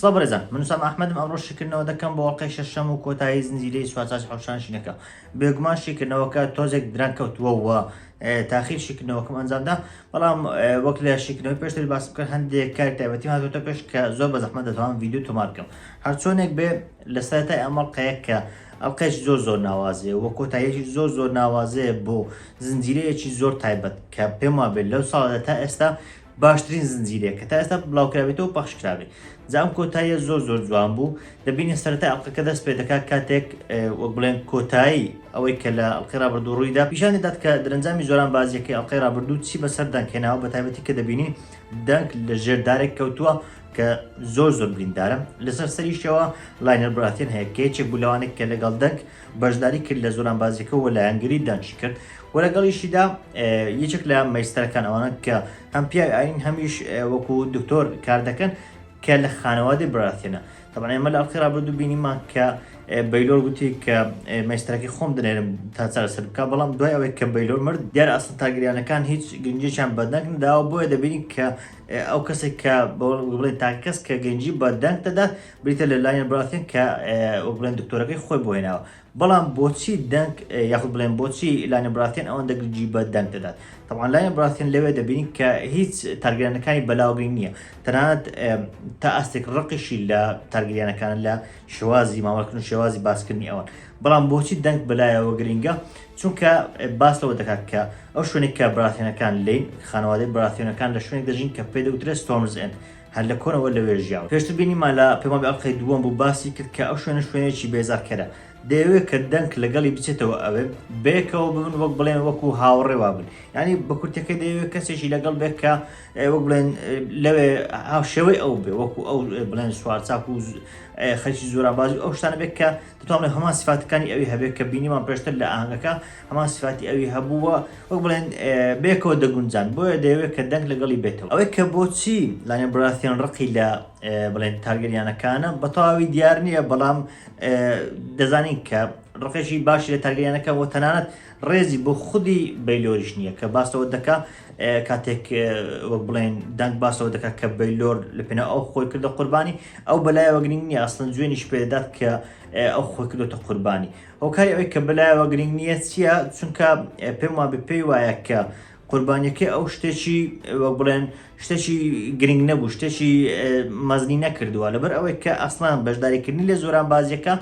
سڵاو بەڕێزان من سام ئەحمەدم ئەمڕۆ شیکردنەوە دەکەم بۆ ئەڵلقەی شەشەم و کۆتایی زنجیرەی سوچاچ حوشان شینەکە بێگومان شیکردنەوەکە تۆزێک دران کەوتووەوە تاخیر شیکردنەوەکەم ئەنجامدا بەڵام وەک لە شیکردنەوەی پێشتر باس بکە هەندێک کار تایبەتی هاتوتە پێش کە زۆر بە زەحمە دەتوان یددیو تۆمار بکەم هەرچۆنێک بێ لە سەرەتای ئەم ئەڵقەیە کە ئەڵقەیەکی زۆر زۆر ناوازەیە وە کۆتاییەکی زۆر زۆر ناوازەیە بۆ زنجیرەیەکی زۆر تایبەت کە پێم وابێت لەو ساڵدا تا ئێستا باشترین زنجیرەیە کە تا ئێستا بڵاوکراوێتەوە پەخش کراوێت جا ئەم کۆتاییە زۆر زۆر جوان بوو دەبینی سەرەتای ئەڵقەکە دەست پێ دەکات کاتێک وەک بڵێن کۆتایی ئەوەی کە لە ئەڵقەی رابردوو ڕوویدا پیشان دەدات کە درەنجامی زۆران بازیەکەی ئەڵقەی رابردوو چی بەسەر دەنکێناوە بە تایبەتی کە دەبینین دەنک لە ژێر دارێک کەوتووە کە زۆر زۆر بریندارە لەسەر سەریشەوە لاینەر براتێن هەیە کە یەکێک بوو لەوانێک کە لەگەڵ دەنگ بەشداری کرد لە زۆران بازیەکە و لایەنگری دانشی کرد و لەگەڵیشیدا یەکێک لە مەیستەرەکان ئەوانە کە هەم پیاوی ئاین هەمیش وەکو دکتۆر کار دەکەن کە لە خانەوادی براتێنە تەبان ئێمە لە ئەڵقی رابردو بینیمان کە بەیلۆر گوتی کە مەستەرەکەی خۆم دەێرم تا چارەسەر بکە بەڵام دوای ئەوەی کە بەیلۆر مرد دیار ئاسن تاگریانەکان هیچ گرنجێکیان بەدەنگ داوە بۆیە دەبینین کە ئەو کەسێک کە وەک بڵێن تاکە کەس کە گەنجی بە دەنگ دەدات بریتە لە لاین براثن کە وەک بڵێن دکتۆرەکەی خۆی بۆ هێناوە بەڵام بۆچی دەنگ یاخود بڵێن بۆچی لاین براثن ئەوەندە گنجی بە دەنگ دەدات طبعا لاین براثن لەوێ دەبین کە هیچ تارگرانەکانی بەلاوگەی نییە تەنانەت تا ئاستێک ڕقیشی لە تارگریانەکان لە شێوازی مامەکردن و شێوازی باسکردنی ئەوان بەڵام بۆچی دەنگ بەلایەوە گرنگە چونکە باس لەوە دەکات کە ئەو شوێنێک کە براثیۆنەکان لین خانەوادەی براثیۆنەکان لە شوێنێک دەژین کە پێ دەوترێت ستۆرمز ئێند هەر لە کۆنەوە لەوێ ژیاون پێشتر بینیمان لە پەیمابی ئەڵقەی دووەم بوو باسی کرد کە ئەو شوێنە شوێنێکی بێزارکەرە دەیەوێت کە دەنک لەگەڵی بچێتەوە ئەوێ بەیەکەوە ببن وەک بڵێن وەکو هاوڕێوا بن ینی بەکورتەکە دەیەوێت کەسێکی لەگەڵ بێت کە وەک بڵێن لەوێ هاوشێوەی ئەو بێ وەکو ئەو بڵێن سوارچاک و خەرکی زۆرانبازی ئەو شتانە بێت کە دەتوانرێت هەمان سفاتەکانی ئەوی هەبێت کە بینیمان پێشتر لە ئاهنگەکە هەمان سفاتی ئەوی هەبووە وەک بڵێن بێکەوە دەگونجان بۆیە دەیەوێت کە دەنگ لەگەڵی بێتەوە ئەوەی کە بۆچی لانێ براثیان ڕقی لە بڵێن تارگەریانەکانە بەتەواوی دیار نییە بەڵام دەزانین کە ڕقێکی باشی لە تارگەریانەکە بۆ تەنانەت ڕێزی بۆ خودی بەیلۆریش نییە کە باس لەوە دەکا کاتێک وەک بڵێن دەنگ باس لەوە دەکا کە بەیلۆر لە پێناو ئەو خۆی کردە قوربانی ئەو بەلایەوە گرنگ نییە ئەسڵەن جوێنیش پێ دەدات کە ئەو خۆی کردوتە قوربانی هۆکاری ئەوەی کە بەلایەوە گرنگ نییە چییە چونکە پێم وابێ پێی وایە کە قوربانیەکەی ئەو شتێکی وەک بڵێن شتێکی گرنگ نەبوو شتێکی مەزنی نەکردووە لەبەر ئەوەی کە ئەسڵان بەشداریکردنی لە زۆران بازیەکە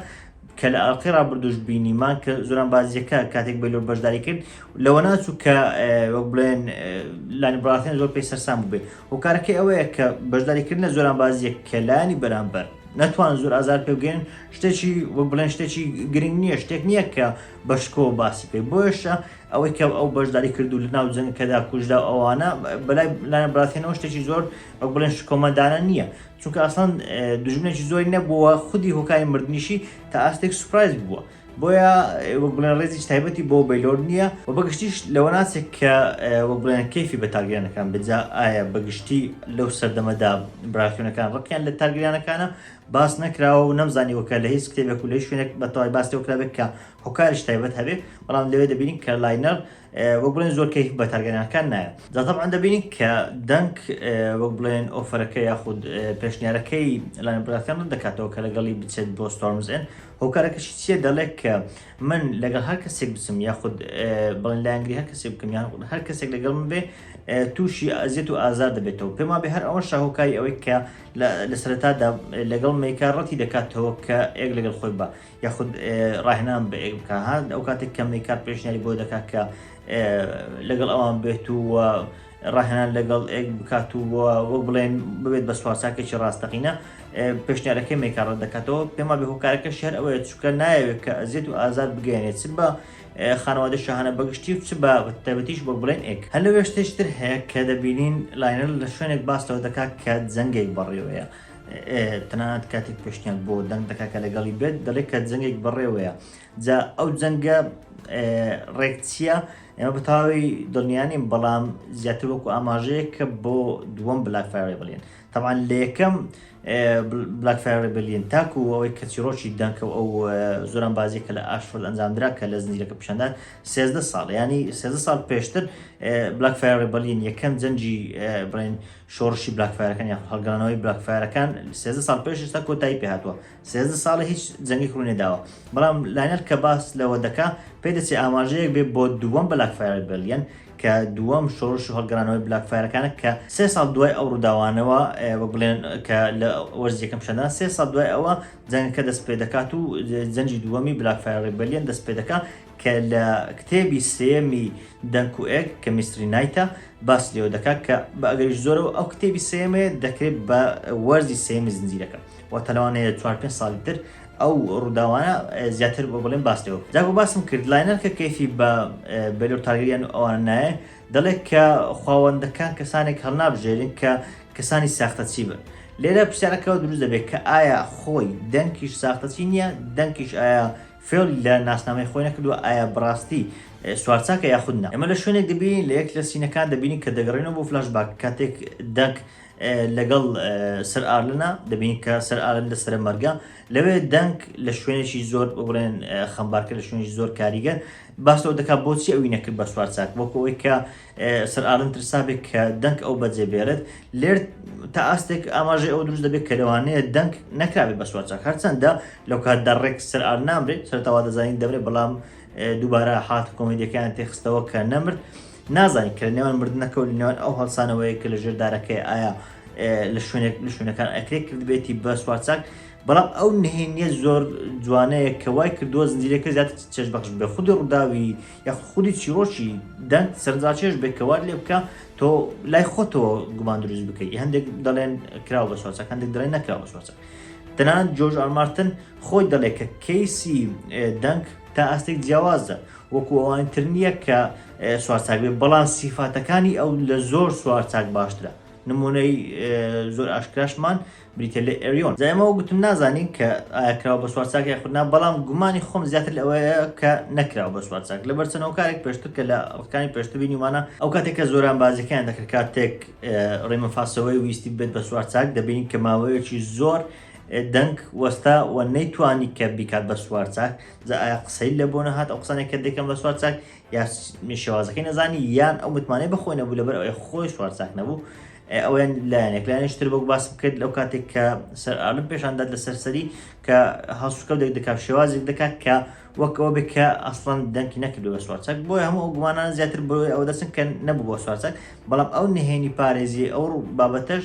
کە لە ئەڵقەی ڕابردووش بینیمان کە زۆران بازیەکە کاتێک بەلۆ بەشداری کرد لەوە ناچوو کە وەک بڵێن لانی بڕاتێن زۆر پێی سەرسان ببێ هۆکارەکەی ئەوەیە کە بەشداریکردن لە زۆران بازیە کەلانی بەرامبەر نەتوان زۆر ئازار پێگەن شتێکی وەک بڵێن شتێکی گرنگ نییە شتێک نییە کە بەشکۆ باسی پێ بۆشە ئەوەی کە ئەو بەشداری کردو لە ناو جەنگ کەدا کوژدا ئەوانە بەلای لایەن بڕاتێنەوە شتێکی زۆر وەک بڵێن شکۆمەدانە نییە چونکە ئەسڵەن دوژمنێکی زۆری نەبووە خودی هۆکاری مردنیشی تا ئاستێک سوپرایز بووە بۆیە وەک بڵێن ڕێزی تایبەتی بۆ بەیلۆر نییە و بەگشتیش لەوە ناچێت کە وەک بڵێن کەیفی بە تارگیرانەکان بجا ئایا بەگشتی لەو سەردەمەدا براکتونەکان ڕقیان لە تارگیرانەکانە باس نەکراوە و نەمزانیوە کە لە هیچ کتێبێک و لە شوێنێک بە تەواوی باس لەوە کرابێت کە هۆکاریش تایبەت هەبێت بەڵام لەوێ دەبینین کە لاینەر وەک بڵێن زۆر کەیف بە تارگەرانەکان نایە جا تەبعەن دەبینین کە دەنگ وەک بڵێن ئۆفەرەکە یاخود پێشنیارەکەی لایەن براتیان ڕەت دەکاتەوە کە لەگەڵی بچێت بۆ ستۆرمز ئێن هۆکارەکەشی چییە دەڵێت کە من لەگەڵ هەر کەسێک بچم یاخود بڵێن لایەنگری هەر کەسێک بکەم یان هەر کەسێک لەگەڵ من بێ تووشی ئازیەت و ئازار دەبێتەوە پێما بێ هەر ئەوە شاهۆکاری ئەوەی کە لە سەرەتادا لەگەڵ میکە ڕەتی دەکاتەوە کە ئێک لەگەڵ خۆی بە یاخود ڕاهێنان بە ئێک بکە ها ئەو کاتێک کە میکات پێشنیاری بۆ دەکات کە لەگەڵ ئەوان بێت و ڕاهێنان لەگەڵ ئێک بکات و وەک بڵێن ببێت بە سوارساکێکی ڕاستەقینە پێشنیارەکەی میکارڕ دەکاتەوە پێما بێ هۆکارەکە شار ئەوەیە چکە نایەوێت کە ئەزیێت و ئازار بگەێنێت چ بە خانەوادە شەهانە بەگشتی و چ بە تەبەتیش بۆ بڵێن ئێک هەلوێشتێشتر هەیە کە دەبینین لاینەر لە شوێنێک باس لەوە دەکات کە جەنگێک بەڕێوەیە. تەنانەت کاتێک پێشنیان بۆ دەنگ دەکا کە لەگەڵی بێت دەڵێت کە جەنگێک بەڕێوەیە جا ئەو جەنگە ڕێک چییە ئێمە بەتاوی دڵنیانیم بەڵام زیاتر وەکو ئاماژەیە کە بۆ دووەم بلاک فارێ بڵێن تاوان لە یەکەم بلاک فارێ بلین تاکو ئەوەی کە چیرۆکی دەنکە ئەو زۆران بازی کە لە ئاشفل ئەنجامدرا کە لە زنجیرەکە پیشاندان سێزدە ساڵ ینی سێزدە ساڵ پێشتر بلاک فارێ بلین یەکەم جەنجی بڵێن شۆڕشی بلاکفایەرەکان یاخود هەڵگەڕانەوەی بلاکفایەرەکان سێزدە ساڵ پێش ئێستا کۆتایی پێ هاتووە سێزدە ساڵە هیچ جەنگێک ڕووی نەداوە بەڵام لاینەر کە باس لەوە دەکا پێ دەچێ ئاماژەیەک بێ بۆ دووەم بلاکفایەر ریبێلیەن کە دووەم شۆڕش و هەڵگەڕانەوەی بلاکفایەرەکانە کە سێ ساڵ دوای ئەو ڕووداوانەوە ئێ، وەک بڵێن کە لە وەرزی یەکەم پیشاندان سێ ساڵ دوای ئەوە جەنگەکە دەست پێ دەکات و جەنگی دووەمی بلاکفایەر ریبێلیەن دەست پێ دەکا کە لە کتێبی سێیەمی دەنک و ئێگ کە میستری نایتە باسی لێوە دەکات کە بە ئەگەریش زۆرەوە ئەو کتێبی سێیەمەیە دەکرێت بە وەرزی سێیەمی زنجیرەکە واتە لەوانەیە چوار پێنج ساڵی تر ئەو ڕووداوانە زیاتر بۆ بڵێن باس لێوە جا بۆ باسم کرد لاینەر کە کەیفی بە بەلۆر تارگەریان و ئەوان نایە دەڵێت کە خواوەندەکان کەسانێک هەڵنابژێرن کە کەسانی ساختەچی بن لێرە پرسیارەکەەوە دروست دەبێت کە ئایا خۆی دەنکیش ساختەچی نییە دەنکیش ئایا فێڵ لە ناسنامەی خۆی نەکردووە، ئایا بەڕاستی سوارچاکە یاخود نا؟ ئێمە لە شوێنێک دەبین، لە یەک لە سینەکان دەبینین کە دەگەڕێینەوە بۆ فلاش باک، کاتێک دەنگ لەگەڵ سەر ئارلنە، دەبینین کە سەر ئارلن لە سەرە مەرگە، لەوێ دەنگ لە شوێنێکی زۆر با بڵێن خەمبارکەر، لە شوێنێکی زۆر کاریگەر باس لەوە دەکات بۆچی ئەوی نەکرد بە سوارچاک، وەکو ئەوەی کە سەر ئارن ترسا بێت کە دەنک ئەو بەجێ بێرێت، لێرد تا ئاستێک ئاماژەی ئەوە دروست دەبێت کە لەوانەیە دەنک نەکرابێت بە سوارچاک، هەرچەندە لەو کاتدا ڕێک سەر ئارن نامرێت، سەرەتا وا دەزانین دەمرێت بەڵام دووبارە هات و کۆمیدیەکەیان تێخستەوە کە نەمرد، نازانین کە لە نێوان مردنەکە و لە نێوان ئەو هەڵسانەوەیە کە لە ژێر دارەکەی ئایا لە شوێنێک لە شوێنەکان ئەکرێت کردبێتی بە سوارچاک، بەڵام ئەو نهێنیە زۆر جوانەیە کە وای کردووە زنجیرەکە زیاتر چێژبەخش بێت، خودی ڕووداوی. یاخود خودی چیڕۆکی دەنگ سەرنجڕاکێش بێت کە وات لێ بکا تۆ لای خۆتەوە گومان دروست بکەیت هەندێک دەڵێن کراوە بە چوارچاک هەندێک دەڵێن نەکراوە بە چوارچاک تەنان جۆرج ئارمارتن خۆی دەڵێت کە کەیسی دەنگ تا ئاستێک جیاوازە وەکو ئەوانی تر نییە کە سوارچاک بێت بەڵام سیفاتەکانی ئەو لە زۆر سوارچاک باشترە نمونەی زۆر ئاشکراشمان بریتیە لە ئێریۆن جا ئێمە وەک گوتم نازانین کە ئایا کراوە بە سوارچاک یاخود نا بەڵام گومانی خۆم زیاتر لەوەیە کە نەکراوە بە سوارچاک لەبەر چەند هۆکارێک پێشتر کە لە ڕکانی پێشتر بینیومانە ئەو کاتێک کە زۆران بازیکەیان دەکرد کاتێک ڕێمە فاسەوەی ویستی ببێت بە سوارچاک دەبینین کە ماوەیەکی زۆر دەنگ وەستا و نەیتوانی کە بیکات بە سوارچاک جا ئایا قسەی لە بۆ نەهات ئەو قسانێک کە دەکەم بە سوارچاک یا شێوازەکەی نەزانی یان ئەو متمانەی بەخۆی نەبوو لەبەر ئەوەی خۆی سوار چاک نەبوو ئەویان لایەنێک لایەنش تر بەک باسم کرد لەو کاتێک کە سەر ئالم پێشاندات لە سەرسەری کە هەڵسوکە دەک دەکات شێوازێک دەکات کە وەکەوە بێت کە ئەسڵەن دەنکی نەکرد بە سوارچەک بۆی هەموو ئەو گومانان زیاتر بۆی ئەوە دەچن کە نەبوو بۆ سوارچەک بەڵام ئەو نهێنی پارێزی ئەو بابەتەش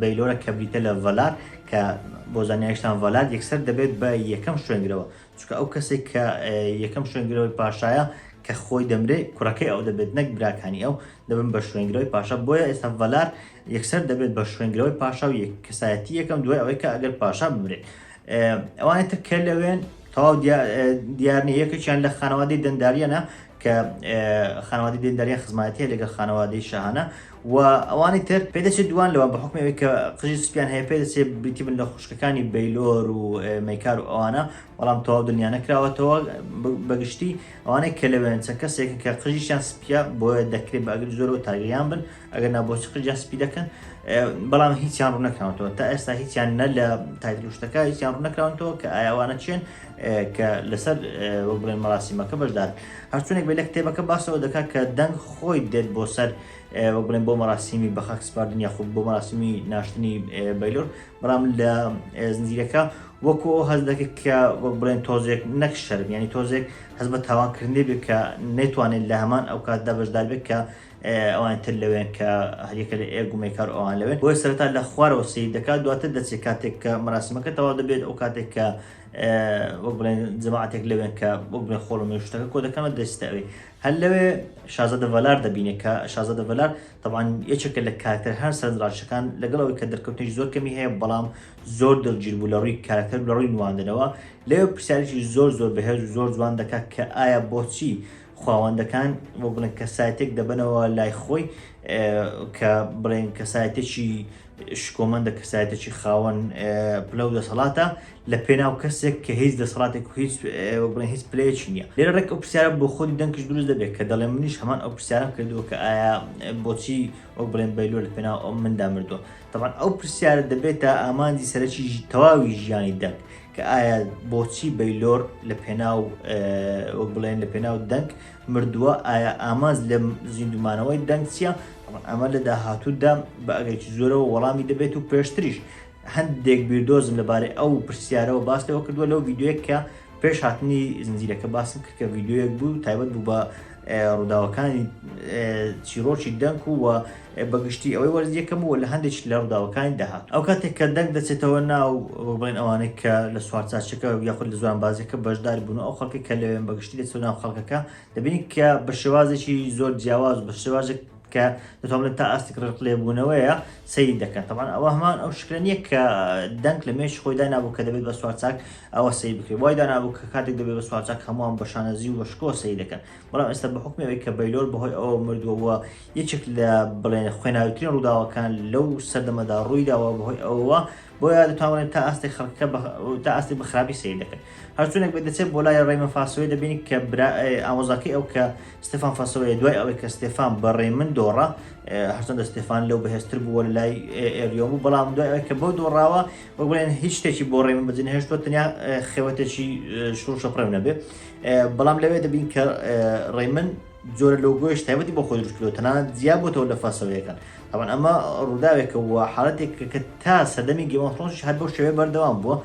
بەیلۆرە کە بریتە لە ڤەلار کە بۆ زانیاریشتان ڤەلار یەکسەر دەبێت بە یەکەم شوێنگرەوە چکە ئەو کەسێک کە یەکەم شوێنگرەوەی پاشایە کە خۆی دەمرێ کوڕەکەی ئەو دەبێت نەک براکانی ئەو دەبن بە شوێنگرەوەی پاشا بۆیە ئێستا ڤەلار یەکسەر دەبێت بە شوێنگرەوەی پاشا و یەک کەسایەتی یەکەم دوای ئەوەی کە ئەگەر پاشا بمرێت ئەوانە تر کە لەوێن تەواو دیارنی یەکێکیان لە خانەوادەی دەنداریانە کە خانەوادی دێندەریان خزمەتە لەگەڵ خانەوادەی شەهانە و ئەوانی تر پێدەچێت دووان لەوان بە حوکمی ئەوەی کە قژی سپیان هەیە پێدەچێت بریتی بن لە خوشکەکانی بەیلۆر و مەیکار و ئەوانە بەڵام تەواو دڵنیا نەکراوەتەوە بەگشتی ئەوانەی کە لەوێن چەند کەسێکن کە قژیشیان سپیە بۆیە دەکرێت بە ئەگەر زۆرەوە تاگەیان بن ئەگەر نابۆچی قژیان سپی دەکەن بەڵام هیچیان ڕوونەکراونەوە تا ئێستا هیچیان نە لە تایتلوشتەکە هیچیان ڕوونەکراونەوە کە ئایاوانە چێن کە لەسەر وەک بڵێن مەراسیمەکە بەشدار هەرچونێک بێت لە کتێبەکە باسەوە دەکات کە دەنگ خۆی دێت بۆ سەر وەک بڵێن بۆ مەراسیمی بە خاک سپاردن یاخود بۆ مەراسیمی ناشتنی بەیلۆر بەڵام لە زنجیرەکە وەکو هەز دەکرد کە وەک بڵێن تۆزێک نەک شەرم ینی تۆزێک هەز بە تاوانکردنی بێت کە نەتوانێت لە هەمان ئەو کاتدا بەشدار بێت کە ئەوان تر لەوێن کە هەریەکە لە ئێ گومێکار ئەوان لەوێن بۆی سەرتا لە خوارەوە سیر دەکات دواتر دەچێت کاتێک کە مەراسیمەکە تەوا دەبێت ئەو کاتێک کە وەک بڵێن جەماعەتێک لەوێن کە وەک بڵێن خۆڵە مێشتەکە کۆ دەکەمە دەستە ئەوێ هەر لەوێ شازادە ڤەلار دەبینێ کە شازادە ڤەلار تەوان یەکێکە لە کارکتەر هەر سەرنجڕاشەکان لەگەڵ ئەوەی کە دەرکەوتنی زۆر کەمی هەیە بەڵام زۆر دڵگیر بوو لە ڕووی کارکتەر لە ڕووی نواندنەوە لەوێ پرسیارێکی زۆر زۆر بەهێز و زۆر جوان دەکات کە ئایا بۆچی خواوەندەکان بۆ بڵێن کەسایەتێک دەبنەوە لای خۆی کە بڵێن کەسایەتێکی شکۆمەندە کەسایەتێکی خاوەن پلە و دەسەڵاتە لە پێناو کەسێک کە هیچ دەسەڵاتێک و هیچ بڵێن هیچ پلەیەکی نییە لێرە ڕێک ئەو پرسیارە بۆ خۆی دەنگش دروست دەبێت کە دەڵێ منیش هەمان ئەو پرسیارم کردووە کە ئایا بۆچی ئەو بڵێن بەیلۆ لە پێناو ئەو مندا مردووە تەبان ئەو پرسیارە دەبێتە ئامانجی سەرەکی تەواوی ژیانی دەنگ کە ئایا بۆچی بەیلۆر لە پێناو وەک بڵێن لە پێناو دەنگ مردووە ئایا ئامانج لە زیندومانەوەی دەنگ چییە ئەمە لە داهاتوودا بە ئەگەرکی زۆرەوە وەڵامی دەبێت و پێشتریش هەندێک بیردۆزم لەبارەی ئەو پرسیارەوە باس لەوە کردووە لەو ڤیددیوەیە کە پێش هاتنی زنجیرەکە باسم کرد کە ڤیددیوەک بوو تایبەت بوو بە ڕووداوەکانی چیڕۆکی دەنک و بە گشتی ئەوەی وەرز یەکەم و لە هەندێک لە ڕووداوەکانی داهات ئەو کاتێک کە دەنگ دەچێتەوە ناو بڵێن ئەوانەی کە لە سوارچاچەکە یاخود لە زوان بازەکە بەشدار بوون ئەو خەڵکی کە لەوێن بەگشتی دەچوە ناو خەڵکەکە دەبینی کە بە شێوازێکی زۆر جیاواز بە شێوازێک کە دەتوان بڵێن تا ئاستی ڕق لێبوونەوەیە سەیری دەکات تەبان ئەوە هەمان ئەو شکلە نییە کە دەنگ لە مێش خۆی دانابوو کە دەبێت بە سوارچاک ئەوە سەیر بکرێت وای دانابوو کە کاتێک دەبێت بە سوارچاک هەمووان بە شانەزی و بەشکۆ سەیر دەکەن بەڵام ئێستا بە حکمی ئەوەی کە بەیلۆر بەهۆی ئەوە مردووەوە یەکێک لە بڵێن خوێناوترین ڕووداوەکان لەو سەردەمەدا ڕوویداوە بەهۆی ئەوە بۆیە دەتوانێت تا ئاستێک خەڵکەکە تا ئاستی بە خراپی سیر دەکەن هەرچونێک بێت دەچێت بۆ لای ڕێمە فاسەوەی دەبینی کە ئامۆزاکەی ئەو کە ستفان فاسەوەی دوای ئەوەی کە ستێفان بە ڕێمن دۆڕە هەرچەندە ستێفان لەو بەهێزتر بووە لە لای ئێریۆم بوو بەڵام دوای ئەوەی کە بۆ دۆڕاوە وەک بڵێن هیچ شتێکی بۆ ڕێمە بەجن هێشتوە تەنیا خێوەتێکی شوڕشە پڕێو نەبێ بەڵام لەوێ دەبین کە ڕێمن جۆرە لۆگۆیش تایبەتی بۆ خۆی دروستکردەوە تەنانەت زیاد بۆتەوە لە فاسەوەیەکان تەبعەن ئەمە ڕووداوێکە و حاڵەتێکە کە تا سەردەمی گیم ئۆف ثرۆنسیش هەر بەو شێوەیە بەردەوام بووە،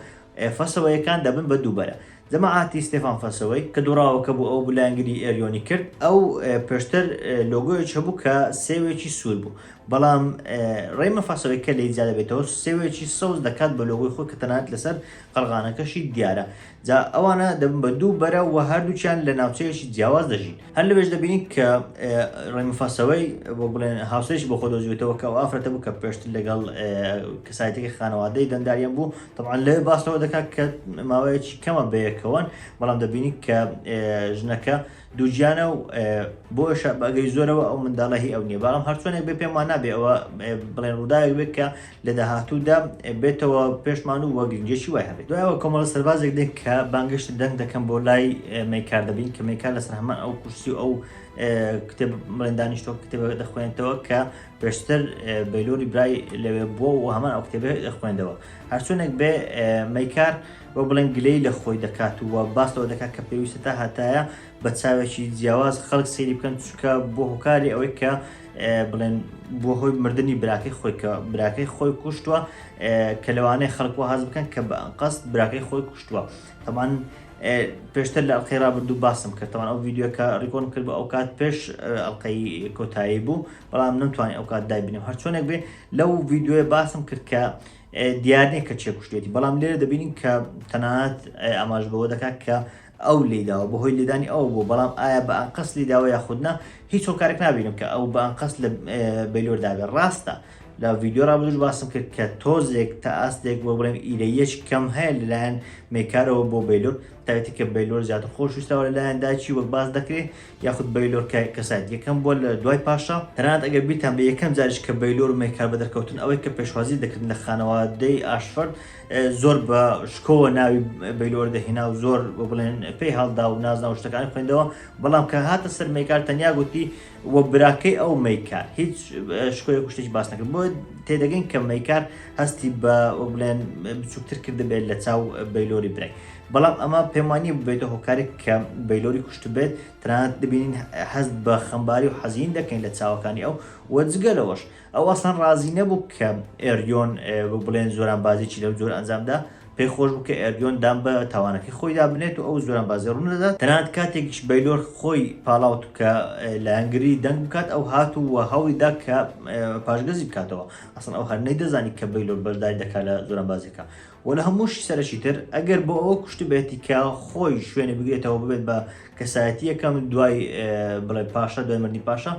فەسەوەیەکان دەبن بە دووبەرە. جەماعەتی ستێفان فەسەوەی، کە دووڕاوەکە بوو ئەو بوو لایەنگری ئێریۆنی کرد، ئەو پێشتر لۆگۆیەکی هەبوو کە سێوێکی سوور بوو، بەڵام ڕەیمە فەسەوەی کە لێی جیا دەبێتەوە سێوێکی سەوز دەکات بە لۆگۆی خۆی کە تەنانەت لەسەر قەڵغانەکەشی دیارە. جا ئەوانە دەبن بە دوو بەرە و هەردووچیان لە ناوچەیەکی جیاواز دەژین هەر لەوێش دەبینین کە ڕێمفاسەوەی بۆ بڵێن هاوسێکی بۆ خۆدۆزیوتەوە کە ئافرەتە بوو کە پێشتر لەگەڵ کەسایەتێکی خانەوادەی دەنداریان بوو تەعاان لەوێ باستەوە دەکات کە ماوەیەکی کەمە بەیەکەوەن بەڵام دەبینی کە ژنەکە دووگیانە و بۆشە بەگەی زۆرەوە ئەو منداڵە هی ئەو نیە بەڵام هەرچۆنێک بێ پێم وانە بێ ئەوە بڵێن ڕووداوێک بێت کە لە داهاتوودا بێتەوە پێشمان و وەگرنجێکی وای هەبێت دوایەوە کۆمەڵە سەربازێک دێک کە بانگشت دەنگ دەکەم بۆ لای مەیکار دەبین کە مەیکار لەسەر هەمان ئەو کورسی و ئەو کتێب بڵێن دانیشتۆ کتێبە دەخوێنێتەوە کە پێشتر بەلۆری برای لەوێ بووە و هەمان ئەو کتێبێ دەخوێندەوە هەرچۆنێک بێ مەیکار وەک بڵێن گلەیی لە خۆی دەکات و باس لەوە دەکات کە پێویستە تا هەتایە بە چاوێکی جیاواز خەڵک سەیری بکەن چکە بۆ هۆکاری ئەوەی کە بڵێن بۆ هۆی مردنی براکەی خۆی کە براکەی خۆی کوشتووە کە لەوانەیە خەڵکو هەز بکەن کە بە قەست براکەی خۆی کوشتووە تەمان پێشتر لە ئەڵلقەی رابردوو باسم کردەوان ئەو یددیوەکە ڕیکۆن کرد بە ئەو کات پێش ئەڵلقەی کۆتایی بوو بەڵام نەمتوانانی ئەو کات دایبنم هەرچۆنێک بێ لەو یددیوە باسم کرد کە دیار نییە کە چێ کوشتوویەتی، بەڵام لێرە دەبینین کە تەنانەت ئاماژە بەوە دەکات کە ئەو لێی داوە، بەهۆی لێدانی ئەوە بووە، بەڵام ئایا بە ئەنقەست لێی داوە یاخود نا، هیچ هۆکارێک نابینم کە ئەو بە ئەنقەست لە بەیلۆر دابێت. ڕاستە لە ڤیدیۆی ڕابردووش باسم کرد کە تۆزێک تا ئاستێک بۆ بڵێم ئیرەییەکی کەم هەیە لەلایەن مێکارەوە بۆ بەیلۆر، تایبەتی کە بەیلۆر زیاتر خۆشویستراوە لەلایەن دایکی وەک باس دەکرێت، یاخود بەیلۆر کای کەسایەت یەکەم بووە لە دوای پاشا، تەنانەت ئەگەر بیرتان بێت یەکەم جاریش کە بەیلۆر و مەیکار بەدەرکەوتن ئەوەی کە پێشوازی دەکردن لە خانەوادەی ئاشفەرد زۆر بە شکۆوە ناوی بەیلۆر دەهێنا و زۆر بە بڵێن پێی هەڵدا و نازناو شتەکانی خوێندەوە بەڵام کە هاتە سەر مەیکار تەنیا گوتی و براکەی ئەو مەیکار هیچ شکۆیەک و شتێکی باس نەکرد بۆ تێدەگەین کە مەیکار هەستی بە بڵێن بچووکتر کردبێت لە چاو بەیلۆری برای بەڵام ئەمە پێم وا نییە ببێتە هۆکارێک کە بەیلۆری کوشتبێت، تەنانەت دەبینین هەست بە خەمباری و حەزین دەکەین لە چاوەکانی ئەو و جگە لەوەش ئەو ئەسڵەن ڕازی نەبوو کە ئێریۆن وەک بڵێن زۆرانبازیی لەو جۆرە ئەنجامدا، پێی خۆش بوو کە ئێریۆن دان بە تاوانەکەی خۆیدا بنێت و ئەو زۆرانبازی ڕوون دەدات، تەنانەت کاتێکیش بەیلۆر خۆی پاڵاوت کە لایەنگری دەنگ بکات، ئەو هات و هەوڵی دا کە پاشگەزی بکاتەوە، ئەسڵەن ئەو هەر نەیدەزانی کە بەیلۆر بەشداری دەکات لە زۆرانبازییەکە. وە لەهەمووشی سەرەکی تر ئەگەر بۆ ئەوە کوشتبێتی کە خۆی شوێنی بگرێتەوە ببێت بە کەسایەتی یەکەم دوای بڵێ پاشا دوای مردی پاشا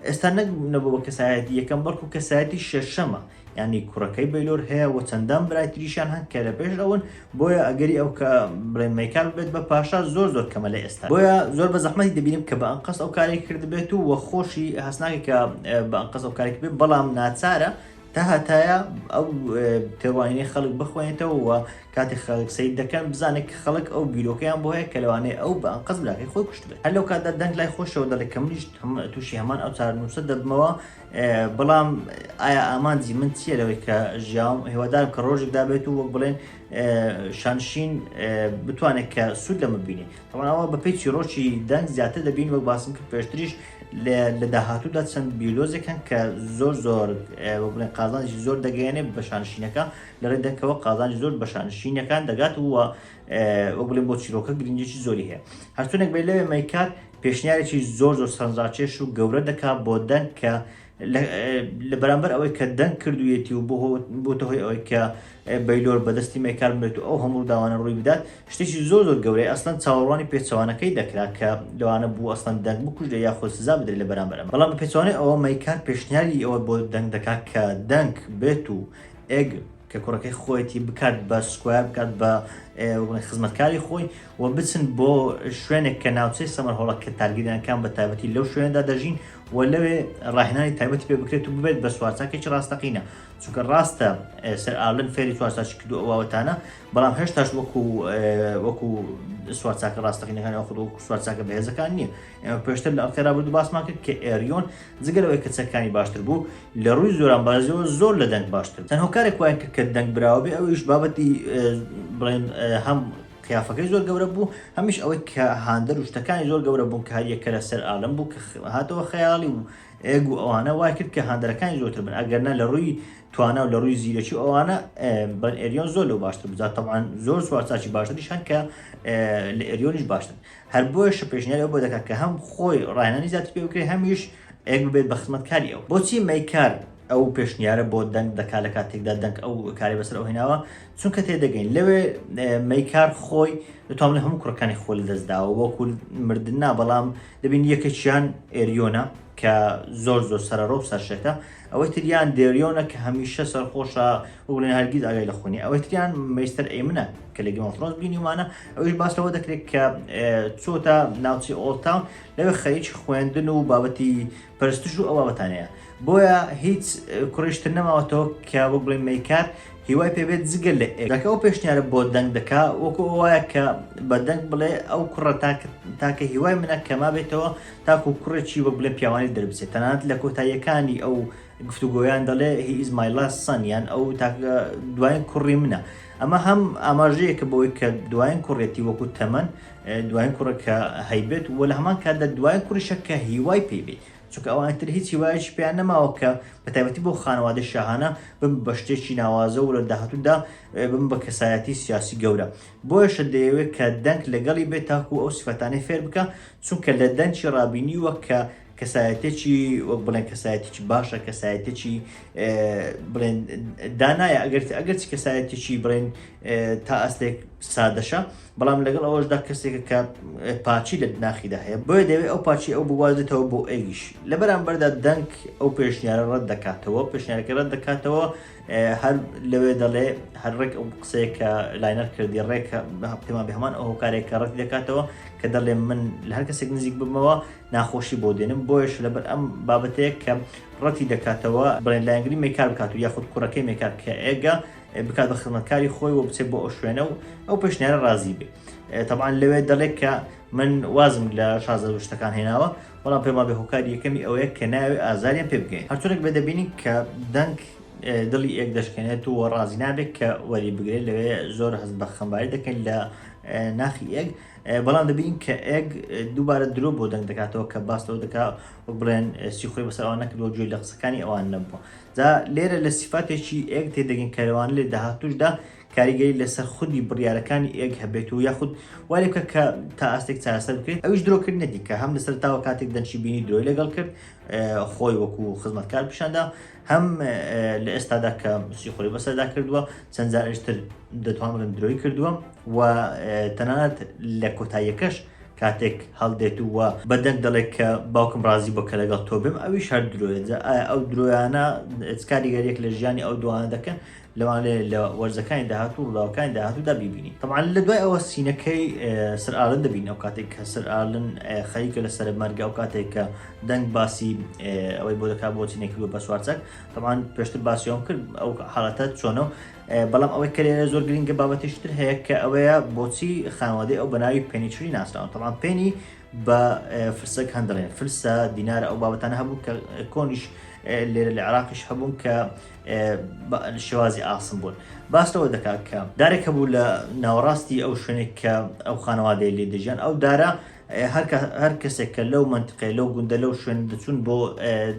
ئێستا نەک نەبوو بە کەسایەتی یەکەم بەڵکو کەسایەتی شەشەمە ینی کوڕەکەی بەیلۆر هەیە و چەندان برای تریشان هەن کە لە پێش ئەون بۆیە ئەگەری ئەو کە بڵێ مەیکال بێت بە پاشا زۆر زۆر کەمە لە ئێستا بۆیە زۆر بە زەحمەتی دەبینم کە بە ئەنقەست ئەو کاری کردبێت و وە خۆشی هەستناکە کە بە ئەنقەست ئەو کارێک بێت بەڵام ناچارە تەهەتایە ئەو تێڕوانینەی خەڵک بخوێنێتەوە و کاتێک خەڵک سیر دەکەن بزانێت کە خەڵک ئەو بیرۆکەیان بۆ هەیە کە لەوانەیە ئەو بە ئەنقەست براکەی خۆی کوشتبێت هەر لەو کاتدا دەنگ لای خۆشەوە دەڵێت کە منیش تووشی هەمان ئەو چارەنووسە دەبمەوە بەڵام ئایا ئامانجی من چییە لەوەی کە ژیاوم هێوادارم کە ڕۆژێک دابێت و وەک بڵێن شانشین بتوانێت کە سوود لەمە بینێت تەواوە بە پێی چیرۆکی دەنگ زیاتر دەبین وەک باسم کرد پێشتریش لە داهاتوودا چەند بیولۆجێک هەن کە زۆر زۆر بڵێن قازانجی زۆر دەگەیەنێ بە شانشینەکە لە ڕێ دەکەوە قازانجی زۆر بە شانشینەکان دەگات وە وە بڵێن بۆ چیرۆکە گرنگێکی زۆری هەیە هەرچونێک بێ لەوێ مەیکات پێشنیارێکی زۆر زۆر سەنجاچێش و گەورە دەکات بۆ دەنگ کە لە بەرامبەر ئەوەی کە دەنگ کردوویەتی و بۆتە هۆی ئەوەی کە بەیلۆر بەدەستی مەیکار بێت و ئەو هەموو داوانە ڕووی بدات شتێکی زۆر زۆر گەورەی ئەسلەن چاوەڕوانی پێچوانەکەی دەکرا کە لەوانە بوو ئەسلەن دەنگ بکوژێ یاخۆ سزا بدرێت لە بەرامبەر ئەمە بەڵام بە پێچوانەی ئەوە مەیکار پێشنیاری ئەوە بۆ دەنگ دەکات کە دەنگ بێت و ئێگ کە کوڕەکەی خۆیەتی بکات بە سکوایە بکات بە خزمەتکاری خۆی و بچن بۆ شوێنێک کە ناوچەی سەمەر هۆڵە کە تارگیرانەکان بە تایبەتی لەو شوێندا دەژین و لەوێ ڕاهێنانی تایبەتی پێ بکرێت و ببێت بە سوارچاکێکی ڕاستەقینە چونکە ڕاستە سەر ئالن فێری چوارچاچ کردو ئەوواوەتانە بەڵام هێشتاش وەکو وەکو سوارچاکە ڕاستەقینەکان ئەو خود وەکو سوارچاکە بەهێزەکان نییە ئێمە پێشتر لە ئەڵکەرا بردو باسمان کرد کە ئێریۆن جگەلەوەی کە چەکانی باشتر بوو لە ڕووی زۆران بازیەوە زۆر لە دەنگ باشتر تەنهۆکارێک وایە کە دەنگ براوە بێ ئەویش بابەتی بڵێن هەم قیافەکەی زۆر گەورە بوو، هەمیش ئەوەی کە هاندەر و شتەکانی زۆر گەورە بوون کە هەر یەکە لە سەر ئالم بوو کە هاتەوە خەیاڵی و ئێگ و ئەوانە وای کرد کە هاندەرەکانی زۆرتر بن ئەگەرنا لە ڕووی توانا و لە ڕووی زیرەکی و ئەوانە بەن ئێریۆن زۆر لەو باشتر بزات تەبان زۆر سوارچاکی باشتریش هەن کە لە ئێریۆنیش باشتر هەر بۆیە شپێشنیاری ئەو بۆ دەکات کە هەم خۆی ڕاهێنانی زیاتر پێ بکرێت هەمیش ئێگ ببێت بە خزمەتکاری ئەو بۆچی مەیکار ئەو پێشنیارە بۆ دەنگ دەکات لە کاتێکدا دەنگ ئەو کارەی بەسەر ئەو هێناوە چونکە تێدەگەین لەوێ مەیکار خۆی دەتوان لە هەموو کوڕەکانی خۆ لە دەستداوە وەکو مردن نا بەڵام دەبین یەکێکیان ئێریۆنە کە زۆر زۆر سەرەڕۆ و سەرشێتە ئەوەی تریان دێریۆنە کە هەمیشە سەرخۆشە وڵێن هەرگیز ئاگای لە خۆنی ئەوەی تریان مەیستەر ئەیمنە کە لە گەمەفرۆز بینیمانە ئەوش باس لەوە دەکرێت کە چۆتە ناوچی ئۆڵتاون لەوێ خەریکی خوێندن و بابەتی پەرستش و ئەو بابەتانەیە بۆیە هیچ کوڕیش تر نەماوەتەوە کە وەک بڵێ مەیکات هیوای پێبێت جگە لە ئێکەکە ئەو پێشنیارە بۆ دەنگ دەکا وەکو ئەوایە کە بە دەنگ بڵێ ئەو کوڕە تاکە هیوای منە کە ما بێتەوە تاکو کوڕێکی وەک بڵێ پیاوانی دەربچێت تەنانەت لە کۆتاییەکانی ئەو گفتوگۆیان دەڵێ هی ئیزمایلا سەنیان ئەو تاکە دوایین کوڕی منە ئەمە هەم ئاماژەیەکە بۆی کە دوایین کوڕێتی وەکو تەمەن دوایین کوڕە کە هەیبێت و لە هەمان کاتدا دوایین کوڕیشە کە هیوای پێی بێت چونکە ئەوان تر هیچ هیوایەکی پێیان نەماوە کە بە تایبەتی بۆ خانەوادەی شاهانە بم بە شتێکی ناوازە و لە داهاتوودا بم بە کەسایەتی سیاسی گەورە بۆیشە دەیەوێت کە دەنگ لەگەڵی بێت تاکو ئەو سفەتانەی فێر بکە چونکە لە دەنگی ڕابینی وە کە کەسایەتێکی وەک بڵێن کەسایەتێکی باشە کەسایەتێکی بڵێن دانایە ئەگەر ئەگەرچ کەسایەتێکی بڵێن تا ئەستێک سادەشە بەڵام لەگەڵ ئەوەشدا کەسێکە کە پاچی لە ناخیدا هەیە بۆیە دەوێت ئەو پاچی ئەو بوازێتەوە بۆ ئەویش لە بەرامبەردا دەنگ ئەو پێشنیارە ڕەت دەکاتەوە پێشنیارەکە ڕەت دەکاتەوە هەر لەوێ دەڵێ هەر ڕێک ئەو قسەیە کە لاینەر کردی ڕێکە پێمان بە هەمان ئەو هۆکارێکە ڕەت دەکاتەوە کە دەڵێ من لە هەر کەسێک نزیک بمەوە ناخۆشی بۆ دێنم بۆیش لەبەر ئەم بابەتەیە کە ڕەتی دەکاتەوە بڵێن لایەنگری مێکار بکات و یاخود کوڕەکەی مێکار کە ئێگە بکات بە خزمەتکاری خۆی و بچێت بۆ ئەو شوێنە و ئەو پێشنیارە ڕازی بێ تەبان لەوێ دەڵێت کە من وازم لە شازە شتەکان هێناوە بەڵام پێما بێ هۆکاری یەکەمی ئەوەیە کە ناوێ ئازاریان پێ بگەین هەرچونێک بێ دەبینین کە دەنگ دڵی ئێک دەشکێنێت و ڕازی نابێت کە وەری بگرێت لەوێ زۆر هەست بە خەمباری دەکەین لە ناخی ئێگ بەڵام دەبین کە ئێگ دووبارە درۆ بۆ دەنگ دەکاتەوە کە باستەوە دەکات بڵێن سیخۆی بەسەرەوە نەکردەوە گوێ لە قسەکانی ئەوان نەبووە جا لێرە لە سیفاتێکی ئێگ تێدەگەین کە لەوانە لە داهاتووشدا کاریگەری لەسەر خودی بڕیارەکانی ئێگ هەبێت و یاخود وای لێ بکە کە تا ئاستێک چارەسەر بکرێت، ئەویش درۆکردنە دیکە هەم لەسەرەتاوە کاتێک دەنشی بینی درۆی لەگەڵ کرد خۆی وەکو خزمەتکار پیشاندا هەم لە ئێستادا کە سیخۆری بەسەردا کردووە چەند جارشتر دەتوانڵێن درۆی کردووە و تەنانەت لە کۆتاییەکەش کاتێک هەڵدێت و وا بە دەنگ دەڵێت کە باوکم ڕازی بووە کە لەگەڵ تۆ بێم، ئەویش هەر درۆیە. جا ئایا ئەو درۆیانە چ کاریگەرییەک لە ژیانی ئەو دووانە دەکەن؟ لەوانەیە لە وەرزەکانی داهاتوو و ڕووداوەکانی داهاتوودا بیبینین. تەبعەن لە دوای ئەوە سینەکەی سەر ئارلن دەبینین، ئەو کاتێک کە سەر ئارلن خەریکە لە سەرەمەرگ، ئەو کاتێک کە دەنگ باسی ئەوەی بۆ دەکات بۆچی نەیکردووە بە سوارچاک. تەبعەن پێشتر باسی ئەوەم کرد ئەو حاڵەتە چۆنە و بەڵام ئەوەی کە لێرە زۆر گرنگە بابەتیش تر هەیە کە ئەوەیە بۆچی خانوادەی ئەو بەناوی پێنیچری ناسراون تەڵام پێنی بە فرسەک هەندڵێن فرسە دینارە ئەو بابەتانە هەبوو کە کۆنیش لێرە لە عراقیش هەبوون کە شێوازی ئاسم بوون باستەوە دەکات کە دارێک هەبوو لە ناوەڕاستی ئەو شوێنێک کە ئەو خانەوادەی لێ دەژیان ئەو دارە هەر کەسێک کە لەو مەنتقەیە، لەو گوندە، لەو شوێنە دەچوون بۆ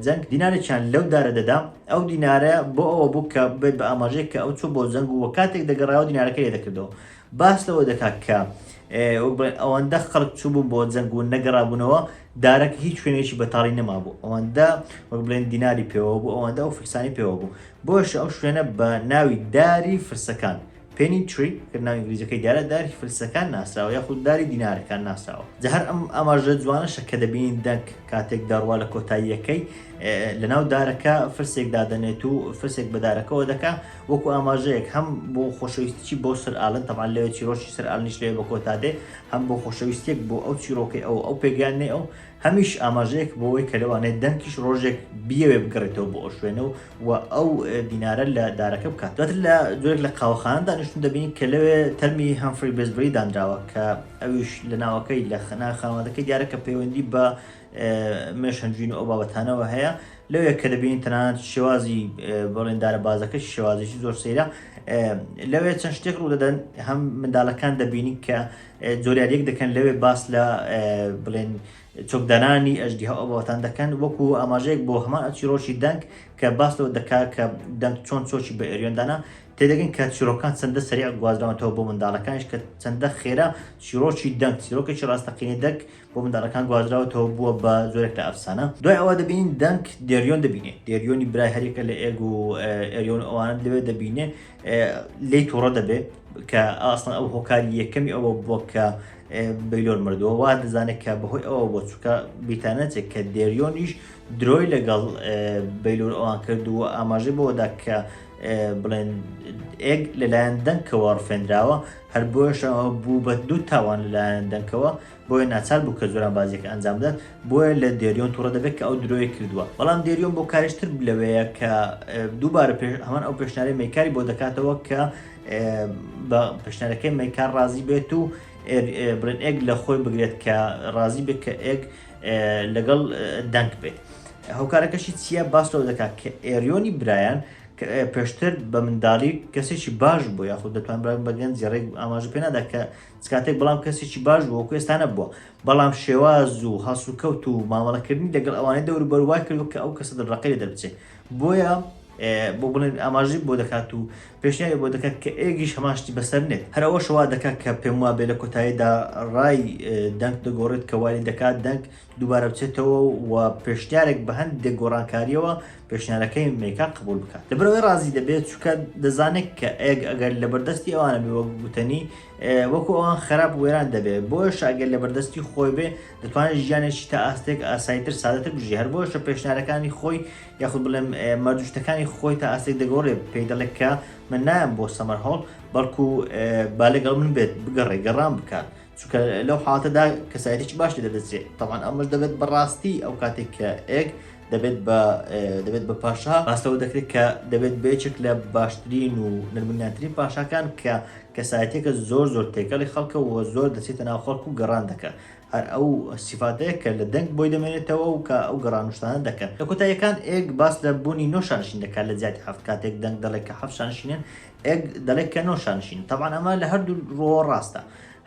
جەنگ، دینارێکیان لەو دارە دەدا، ئەو دینارە بۆ ئەوە بوو کە بێت بە ئاماژەیەک کە ئەو چووە بۆ جەنگ و کاتێک دەگەڕایەوە دینارەکەی لێ دەکردەوە. باس لەوە دەکا کە وەک بڵێن ئەوەندە خەڵک چووبوون بۆ جەنگ و نەگەڕابوونەوە، دارەکە هیچ شوێنێکی بەتاڵی نەمابوو، ئەوەندە وەک بڵێن دیناری پێوە بوو، ئەوەندە ئەو فرسانەی پێوە بوو، بۆیەشە ئەو شوێنە بە ناوی داری فرسەکان Penny Tree، کە ناوی ئینگلیزیەکەی دیارە، داری فلسەکان ناسراوە یاخود داری دینارەکان ناسراوە. جا هەر ئەم ئاماژە جوانەشە کە دەبینین دەنک کاتێک دەڕوا لە کۆتاییەکەی لەناو دارەکە فلسێک دادەنێت و فلسێک بە دارەکەوە دەکا وەکو ئاماژەیەک هەم بۆ خۆشەویستیی بۆ سەر ئالن تەبعەن لەوێ چیرۆکی سەر ئالنیش لەوێ بە کۆتا دێ هەم بۆ خۆشەویستیەک بۆ ئەو چیرۆکەی ئەو ئەو پێگەیاندنەی ئەو هەمیش ئاماژەیەک بۆ ئەوەی کە لەوانەیە دەنکیش ڕۆژێک بیەوێ بگەڕێتەوە بۆ ئەو شوێنە و و ئەو بینارە لە دارەکە بکات دواتر لە جۆرێک لە قاوەخانە دانیشتون دەبینی کە لەوێ تەرمی هەمفری بێزبری دانراوە کە ئەویش لە ناوەکەی لە خنا خانوادەکەی دیارە کە پەیوەندی بە مێشەنجین و ئەو بابەتانەوە هەیە لەوێ کە دەبینین تەنانەت شێوازی بەڵێندارە بازەکە شێوازیی زۆر سەیرە لەوێ چەند شتێک ڕوو دەدەن هەم منداڵەکان دەبینین کە زۆریاریەک دەکەن لەوێ باس لە بڵێن چۆکدارانی ئەژدیها ئەوبابەتان دەکەن وەکو ئاماژەیەک بۆ هەمان ئەچیڕۆکی دەنگ کە باس لەوە دەکا کە دەنگ چۆن چۆکی بە ئێریۆن دانا تێدەگەین کە چیڕۆکان چەندە سەریع گوازراونەتەوە بۆ منداڵەکانیش کە چەندە خێرا چیڕۆکی دەنگ چیرۆکێکی ڕاستەقینەی دەک بۆ منداڵەکان گوازراوەتەوە بووە بە زۆرێک لە ئەفسانە دوای ئەوە دەبینین دەنگ دێریۆن دەبینێ دێریۆنی برای هەریەکە لە ئێگ و ئێریۆن ئەوانە لەوێ دەبینێ لێی توڕە دەبێ کە ئاسڵن ئەو هۆکاری یەکەمی ئەوە بووە کە بەیلۆر مردووە وا دەزانێت کە بەهۆی ئەوە بۆ چووکە بیتانەچێت کە دێریۆنیش درۆی لەگەڵ بەیلۆر ئەوان کردووە ئاماژەی بۆدا کە بڵێن ئێگ لەلایەن دەنکەوە ڕفێنراوە هەر بۆشەوە بوو بە دوو تاوان لەلایەن دەنکەوە بۆیە ناچار بوو کە جۆرانبازییەکە ئەنجام بدات، بۆیە لە دێریۆن توڕە دەبێت کە ئەو درۆیە کردووە، بەڵام دێریۆن بۆ کاریش تر لەوەیە کە دووبارە پێش هەمان ئەو پێشنیارەی مەیکاری بۆ دەکاتەوە کە بە پێشنیارەکەی مەیکار ڕازی بێت و برێن ئێگ لە خۆی بگرێت کە ڕازی بێت کە ئێگ لەگەڵ دەنگ بێت هۆکارەکەشی چییە باس لەوە دەکات کە ئێریۆنی برایان پێشتر بە منداڵی کەسێکی باش بوو یاخود دەتوان بە گەنجی ڕێک ئاماژە پێنادا کە چ کاتێک بەڵام کەسێکی باش بوو وەکو ئێستا نەبووە بەڵام شێواز و هەڵسوکەوت و مامەڵەکردنی لەگەڵ ئەوانەی دەوروبەر وای کردووە کە ئەو کەسە دڵڕەقی لێ دەربچێت بۆیە بۆ بڵێن ئاماژی بۆ دەکات و پێشنیاری بۆ دەکات کە ئێگیش هەماشتی بەسەر نێت هەرەوە شەوا دەکات کە پێم وابێ لە کۆتاییدا ڕای دەنگ دەگۆڕێت کە وای دەکات دەنگ دووبارە بچێتەوە و پێشنیارێک بە هەندێک گۆڕانکاریەوە پێشنیارەکەی مەیکا قبول بکات لەبرەوەی ڕازی دەبێت چکە دەزانێت کە ئەگ ئەگەر لە بەردەستی ئەوانە بێ وەک گوتنی وەکو ئەوان خراپ وێران دەبێت بۆش ئەگەر لە بەردەستی خۆی بێ دەتوانێت ژیانێکی تا ئاستێک ئاسایتر سادەتر بژی هەر بۆشە پێشنارەکانی خۆی یاخود بڵێم مەردوشتەکانی خۆی تا ئاستێک دەگۆڕێت پێی دەڵێت کە من نایەم بۆ سەمەر هەڵ بەڵکو بالێگەڵ من بێت بگەڕێ گەڕان بکات چونکە لەو حاڵەتەدا کەسایەتێکی باش لێ دەدەچێت تەوان ئەمەش دەبێت بەڕاستی ئەو کاتێک کە ئێک دەبێت بە دەبێت بە پاشا باستەوە دەکرێت کە دەبێت بێچێک لە باشترین و نرمنیاترین پاشاکان کە کەسایەتێکە زۆر زۆر تێکەڵی خەڵکە و زۆر دەچێتە ناو خەڵک و گەڕان دەکە هەر ئەو سیفاتەیە کە لە دەنگ بۆی دەمێنێتەوە و کە ئەو گەڕانشتانە دەکەن لە کۆتاییەکان ئێک باس لە بوونی نۆشانشین دەکات لە زیاتی هەفت کاتێک دەنگ دەڵێک کە حەفشانشینێن ئێک دەڵێک کە نۆشانشین تەوان ئەمە لە هەردوو ڕۆ ڕاستە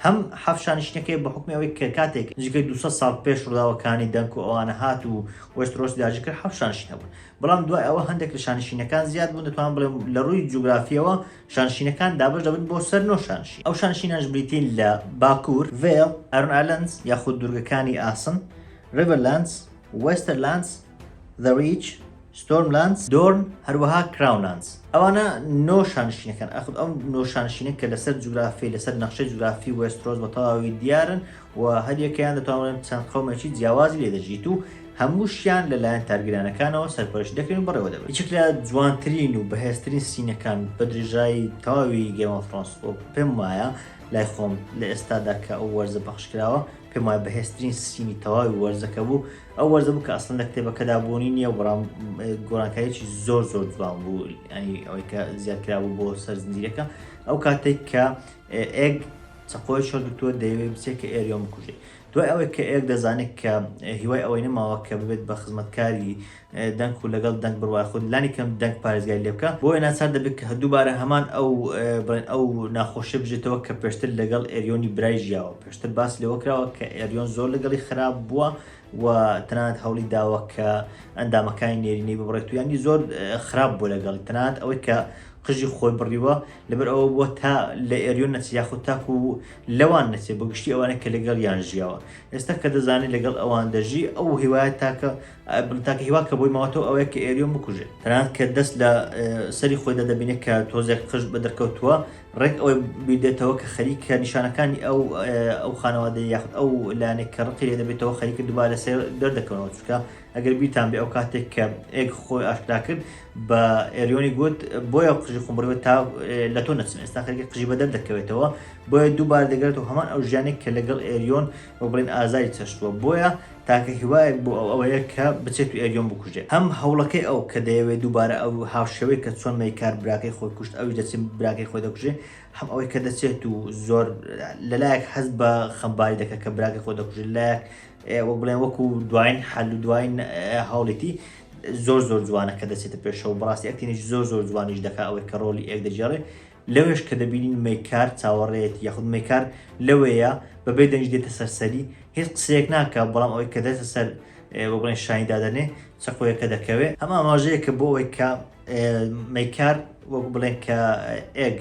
هەم حەفشانشینەکەی بە حوکمی ئەوەی کە کاتێک نزیکەی دوو سەد ساڵ پێش ڕووداوەکانی دەنک و ئەوانە هات و وێسترۆسی داگیر کرد حەفشانشین هەبوون بەڵام دوای ئەوە هەندێک لە شانشینەکان زیاد بوون دەتوانم بڵێم لە ڕووی جوگرافیەوە شانشینەکان دابەش دەبن بۆ سەر نۆ شانشین ئەو شانشینانش بریتین لە باکوور ڤێڵ ئەرن ئالەندس یاخود دوورگەکانی ئاسن ڕیڤەرلاندس وێستەرلاندس The Reach، Stormlands، Dorn، هەروەها Crownlands. ئەوانە نۆ شانشینەکان، ئاخر ئەم نۆ شانشینە کە لەسەر جوگرافی لەسەر نەخشەی جوگرافی وێسترۆس بە تەواوی دیارن و هەریەکەیان دەتوانن چەند قەومێکی جیاوازی لێ دەژیت و هەمووشیان لەلایەن تارگرانەکانەوە سەرپەرشت دەکرێن و بەڕێوە دەبن یەکێک لە جوانترین و بەهێزترین سینەکان بە درێژایی تەواوی گێم ئۆف ثرۆنس و پێم وایە لای خۆم لە ئێستادا کە ئەو وەرزە پەخش کراوە پێم وایە بەهێزترین سینی تەواوی وەرزەکە بوو ئەو وەرزە بوو کە ئەسڵەن لە کتێبەکەدا بوونی نییە و بەڵام گۆڕانکاریی زۆر زۆر جوان بوو ئەنی ئەوەی کە زیاد کرابوو بۆ سەر زنجیرەکە ئەو کاتێک کە ئێگ چەقۆی شۆر دکتۆر دەیەوێت بچێت کە ئێریۆن بکوژێت دوای ئەوەی کە ئێگ دەزانێت کە هیوای ئەوەی نەماوە کە ببێت بە خزمەتکاری دەنگ و لەگەڵ دەنگ بڕوای خود لانی کەم دەنگ پارێزگای لێ بکە بۆیە ناچار دەبێت کە دووبارە هەمان ئەو بڵێن ئەو ناخۆشیە بژێتەوە کە پێشتر لەگەڵ ئێریۆنی برای ژیاوە پێشتر باس لەوە کراوە کە ئێریۆن زۆر لەگەڵی خراپ بووە و تەنانەت هەوڵی داوە کە ئەندامەکانی نێرینەی ببڕێت و یانی زۆر خراپ بوو لەگەڵ تەنانەت ئەوەی کە قژی خۆی بڕیوە لەبەر ئەوە بووە تا لە ئێریۆن نەچ یاخود تاکو و لەوان نەچێت بە گشتی ئەوانە کە لەگەڵ یان ژیاوە ئێستا کە دەزانێت لەگەڵ ئەوان دەژی ئەو هیوایە تاکە تاکە هیوا کە بۆی ماوەتەوە ئەوەیە کە ئێریۆن بکوژێ تەنانەت کە دەست لە سەری خۆیدا دەبینێت کە تۆزێک قژ بە دەرکەوتووە ڕێک ئەوەی بیدێتەوە کە خەریکە نیشانەکانی ئەو ئەو خانەوادە یاخود ئەو لایەنێک کە ڕقی لێ دەبێتەوە خەریکە دووبارە لە سێر دەردەکەونەوە چکە ئەگەر بیتان بێ ئەو کاتێک کە ئێگ خۆی ئاشکرا کرد بە ئێریۆنی گوت بۆیە قژی خۆمڕێت تا لە تۆ نەچم ئێستا خەریکە قژی بە دەردەکەوێتەوە بۆیە دووبارە دەگرێتەوە هەمان ئەو ژیانێک کە لەگەڵ ئێریۆن وە بڵێن ئازاری چەشتووە بۆیە تاکە هیوایەک بۆ ئەو ئەوەیە کە بچێت و ئێریۆن بکوژێت. هەم هەوڵەکەی ئەو کە دەیەوێت دووبارە ئەو هاوشێوەی کە چۆن مەیکار براکەی خۆی کوشت ئەویش دەچێت براکەی خۆی دەکوژێت، هەم ئەوەی کە دەچێت و زۆر لە لایەک هەست بە خەمباری دەکات کە براکەی خۆی دەکوژێت لە لایەک وەک بڵێن وەکو دوایین حەل و دوایین هەوڵیتی زۆر زۆر جوانە کە دەچێتە پێشەوە بەڕاستی ئەکتینگی زۆر زۆر جوانیش دەکات ئەوەی کە ڕۆڵی ئێک دەگێڕێت لەوێش کە دەبینین مەیکار چاوەڕێیەتی یاخود مەیکار لەوێیە بەبێ دەنگی دێتە سەر سەری هیچ قسەیەک ناکە بەڵام ئەوەی کە دێتە سەر بە بڵێن شانی دادەنێ چەقۆیەکە دەکەوێ ئەمە ئاماژەیە کە بۆ ئەوەی کە مەیکار وەک بڵێن کە ئێگ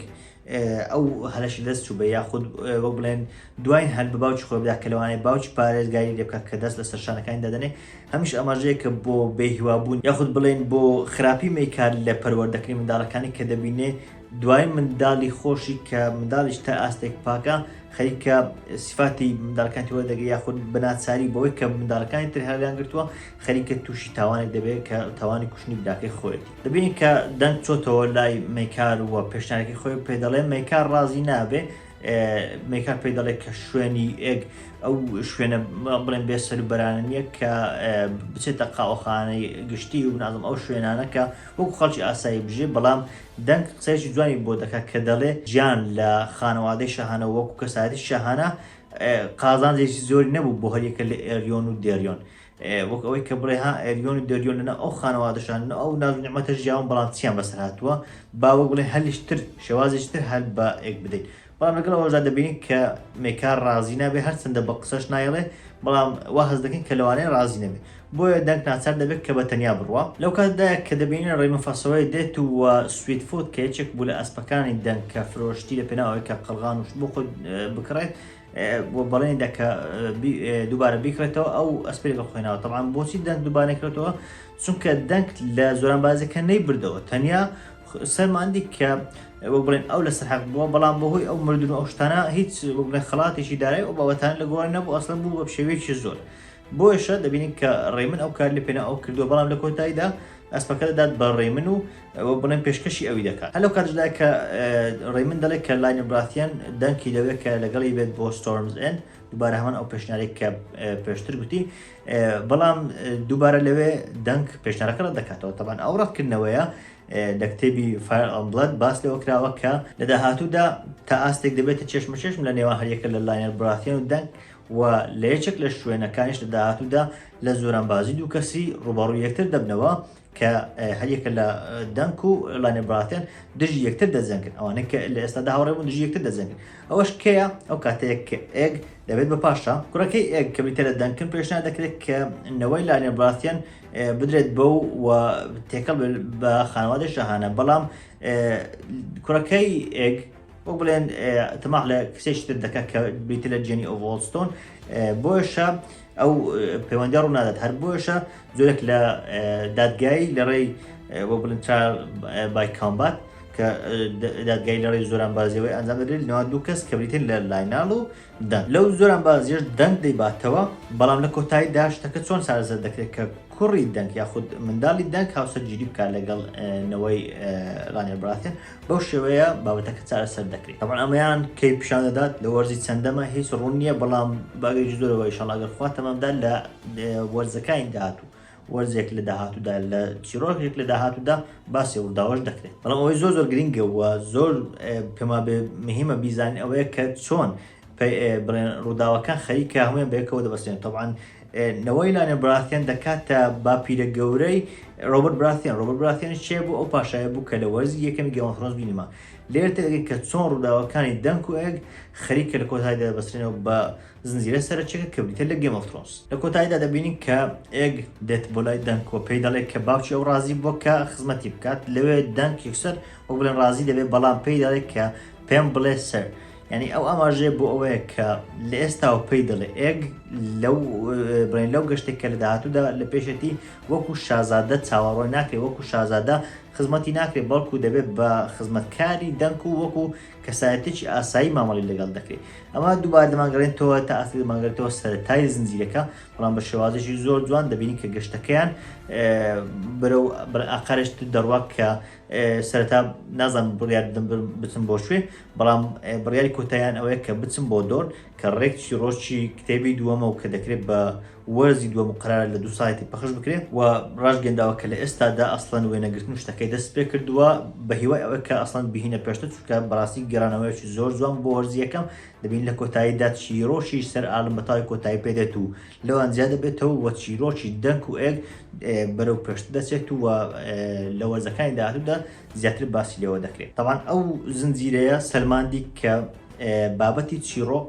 ئەو هەلەشی دەست چوو بە یاخود وەک بڵێن دوای هەل بە باوچ خۆبدا کە لەوانەیە باوچ پارێزگاری لێ بکات کە دەست لە سەرشانەکانی دادنێ هەمیش ئاماژەیەکە بۆ بێهیوابوون یاخود بڵێین بۆ خراپی مەیکار لە پەروەردەکردنی منداڵەکانی کە دەبینێ دوایین منداڵی خۆشی کە منداڵیش تا ئاستێک پاکە خەریکە سیفاتی منداڵەکانی تر وەردەگرێ یاخود بە ناچاری بەوەی کە منداڵەکانی تر هەڵیان گرتووە خەریکە تووشی تاوانێک دەبێت کە تاوانی کوشتنی براکەی خۆیەتی دەبینین کە دەنگ چۆتەوە لای مەیکار و پێشنیارەکەی خۆی پێ دەڵێ مەیکار ڕازی نابێ میکا پێی دەڵێت کە شوێنی ئێگ ئەو شوێنە بڵێن بێ سەروبەرانە نییە کە بچێتە قاوەخانەی گشتی و نازم ئەو شوێنانەکە وەکو خەڵکی ئاسایی بژێ بەڵام دەنگ قسەیەکی جوانی بۆ دەکات کە دەڵێ جیان لە خانەوادەی شەهانە وەکو کەسایەتی شەهانە قازانجێکی زۆری نەبوو بۆ هەریەکە لە ئێریۆن و دێریۆن وەک ئەوەی کە بڵێ ها ئەریۆن و دەریۆن لەناو ئەو خانەوادەشان لەناو ئەو ناز و نیعمەتە ژیاون بەڵام چیان بەسەر هاتووە با وەک بڵێ هەلیش تر شێوازیش تر هەل بە ئێک بدەین بەڵام لەگەڵ ئەوەشدا دەبینین کە مێکار ڕازی نابێ هەرچەندە بە قسەش نایڵێ بەڵام وا هەز دەکەین کە لەوانەیە ڕازی نەبێ بۆیە دەنگ ناچار دەبێت کە بە تەنیا بڕوا لەو کاتدایە کە دەبینین ڕێمە فەسەوەی دێت و وە سویت فوت کە یەکێک بوو لە ئەسپەکانی دەنگ کە فرۆشتی لە پێناو ئەوەی کە قەڵغان و شت بۆ خۆی بکڕێت و بەڵێنی دا کە دووبارە بیکڕێتەوە ئەو ئەسپری بە خۆێنەوە تەڵام بۆچی دەنگ دووبارە کرێتەوە چونکە دەنگ لە زۆران بازەکە نەی بردەوە تەنیا سەرماندی کە وەک بڵێن ئەو لەسەر حەق بووە بەڵام بەهۆی ئەو مردن ئەو شتانە هیچ بڵێن خڵاتێکی دارای ئەو بابەتان لە گۆڕی نەبوو ئەسڵم بوو بە شێوەیەکی زۆر بۆیشە دەبینین کە ڕێمن ئەو کار لە پێنا ئەو کردووە بەڵام لە کۆتاییدا ئەسپەکە دەدات بە ڕێمن و ئەوە بڵێن پێشکەشی ئەوی دەکات هەلو کاتدا کە ڕێمن دەڵێت کە لاینە براتیان دەنکی دەوێت کە لەگەڵی بێت بۆ ستۆرمز ئەند دووبارە هەمان ئەو پێشنارێک کە پێشتر گوتی بەڵام دووبارە لەوێ دەنک پێشنارەکە ڕەت دەکاتەوە تەبان ئەو ڕەتکردنەوەیە لە کتێبی فایڵبلد باس لەوە کراوە کە لە داهاتوودا تا ئاستێک دەبێتە چێشمە چێشم لە نێوان هەریەکە لە لاینەر براتیان و دەنگ و لە یەکێک لە شوێنەکانیش لە داهاتوودا لە زۆرانبازی دوو کەسی ڕوبەڕوو یەکتر دەبنەوە کە هەریەکە لە دەنک و لانێ براتێن دژی یەکتر دەجەنگن ئەوانە کە لە ئێستادا هاوڕێبوون دژی یەکتر دەجەنگن ئەوەش کەیە ئەو کاتێک ئێگ دەبێت بە پاشا کوڕەکەی ئێگ کە بریتە لە دەنکن پێشنا دەکرێت کە نەوەی لانێ براتێن بدرێت بە و و تێکەڵ بە خانەوادە شەهانە بەڵام کوڕەکەی ئێگ وەک بڵێن تەماح لە کسێکی تر دەکات کە بریتە لە جێنی ئۆڤۆڵستۆن بۆشە ئەو پەیوەندە ڕوونادات هەر بۆشە زۆرێک لە دادگایی لە ڕێی وە بڵن بای کامبات کە دادگای لە ڕێی زۆران بازیەوەی ئەنجام دەدرێت لەوان دوو کەس کە بریتن لە لایناڵ و دا لەو زۆرانبازیەش دەنگ دەیباتەوە، بەڵام لە کۆتایی دا شتەکە چۆن چارەسەر دەکرێت کە کوڕی دەنگ یاخود منداڵی دەنگ هاوسەرگیری بکات لەگەڵ نەوەی ڕانێر براثێن بەو شێوەیە بابەتەکە چارەسەر دەکرێت تەبعەن ئەمەیان کەی پیشان دەدات لە وەرزی چەندەمە هیچ ڕوون نییە بەڵام بەگەیجی زۆرەوە ئیشەڵا گەر خوا تەمەمدا لە وەرزەکانی داهاتوو وەرزێک لە داهاتوودا لە چیرۆکێک لە داهاتوودا باسی ڕووداوەش دەکرێت بەڵام ئەوەی زۆر زۆر گرنگە و زۆر پێما بێ مهمە بیزانین ئەوەیە کە چۆن بڵێن ڕووداوەکان خەریکە هەمویان بەیەکەوە دەبەستێن تەوان نەوەی لانێ براثێن دەکاتە باپیرە گەورەی ڕۆبەر براثێن ڕۆبەر براثێن شێ بوو ئەو پاشایە بوو کە لە وەرزی یەکەمی گەۆنفرۆنس بینیمە لێرتەگەی کە چۆن ڕووداوەکانی دەنگ و ئەگ خەریکە لە کۆتایدا بەسرێنەوە بە زنجیرە سەرەکیەکە کە بریتیە لە گەیم ئۆف ترۆنس. لە کۆتاییدا دەبینین کە ئێگ دێت بۆ لای دەنک و پێی دەڵێت کە باوکی ئەو ڕازی بووە کە خزمەتی بکات لەوێ دەنک یەکسەر وەک بڵێن ڕازی دەبێت بەڵام پێی دەڵێت کە پێم بڵێ سەر یعنی ئەو ئاماژەیە بۆ ئەوەیە کە لە ئێستاوە پێی دەڵێ ئێگ لەو بڵێن لەو گەشتێک کە لە داهاتوودا لە پێشێتی وەکو شازادە چاوەڕۆی ناکرێت وەکو شازادە خزمەتی ناکرێت بەڵکو دەبێت بە خزمەتکاری دەنک و وەکو کەسایەتیەکی ئاسایی مامەڵی لەگەڵ دەکرێت ئەمە دووبار دەمانگەڕێنتەوە تا ئاست دەمانگرێتەوە سەرەتای زنجیرەکە بەڵام بە شێوازێکی زۆر جوان دەبینین کە گەشتەکەیان بەرەو ئاقارشت دەڕوات کە سەرەتا نازم بڕیار بچم بۆ شوێ بەڵام بڕیاری کۆتاییان ئەوەیە کە بچم بۆ دۆر کە ڕێکچی ڕۆژی کتێبی دووەمە و کە دەکرێت بە وەرزی دووەم قەرارە لە دوو سایتی پەخش بکرێ و ڕاشگەیەنداوە کە لە ئێستادا ئەسڵەن وێنەگرتن و شتەکەی دەست پێ کردووە بە هیوای ئەوەی کە ئەسڵەن بیهینە پێشتر چونکە بەڕاستی گەڕانەوەیەکی زۆر جوان بۆ وەرزی یەکەم دەبین لە کۆتاییدا چیرۆکیش سەر ئالن بە تاوی کۆتایی پێ دێت و لەوان زیاد دەبێتەوە و چیرۆکی دەنک و ئێگ بەرەو پێشتر دەچێت و لە وەرزەکانی داهاتوودا زیاتر باسی لێوە دەکرێت تەوان ئەو زنجیرەیە سەلماندی کە بابەتی چیرۆک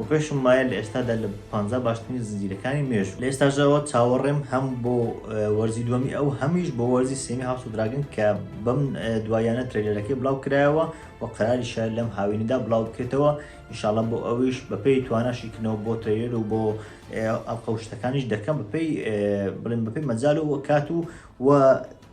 و پێشم وایە لە ئێستادا لە پانزا باشترین زنجیرەکانی مێژوو لە ئێستاژەوە چاوەڕێم هەم بۆ وەرزی دووەمی ئەو هەمیش بۆ وەرزی سێمی هاوس دراگن کە بەم دوایانە ترێلەرەکەی بڵاو کرایەوە و قەراری شار لەم هاوینەدا بڵاو بکرێتەوە ئینشاالله بۆ ئەویش بەپێی تواناشی کنەوە بۆ ترێلەر و بۆ ئەڵقەوشتەکانیش دەکەم بەپێی بڵێن بەپێی مەجال و کات و و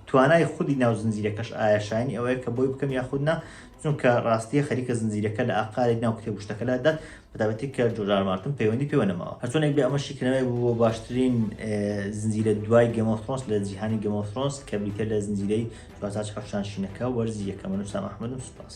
توانای خودی ناو زنجیرەکەش ئایا شایەنی ئەوەیە کە بۆی بکەم یاخود نا چونکە ڕاستیە خەریکە زنجیرەکە لە ئاقارێک ناو کتێب وشتەکەلا دات بەتابەتی کە جۆرجار مارتن پەیوەندی پێوە نەماوە هەرچۆنێک بێ ئەمە شیکردنەوەی بوو بۆ باشترین زنجیرە دوای گەمۆ فرۆنس لە جیهانی گەمۆ فرۆنس کە بریتە لە زنجیرەی چوارچاچ حەفشان شینەکە وەرزی یەکەمە نووسام ئەحمەد و سوپاس.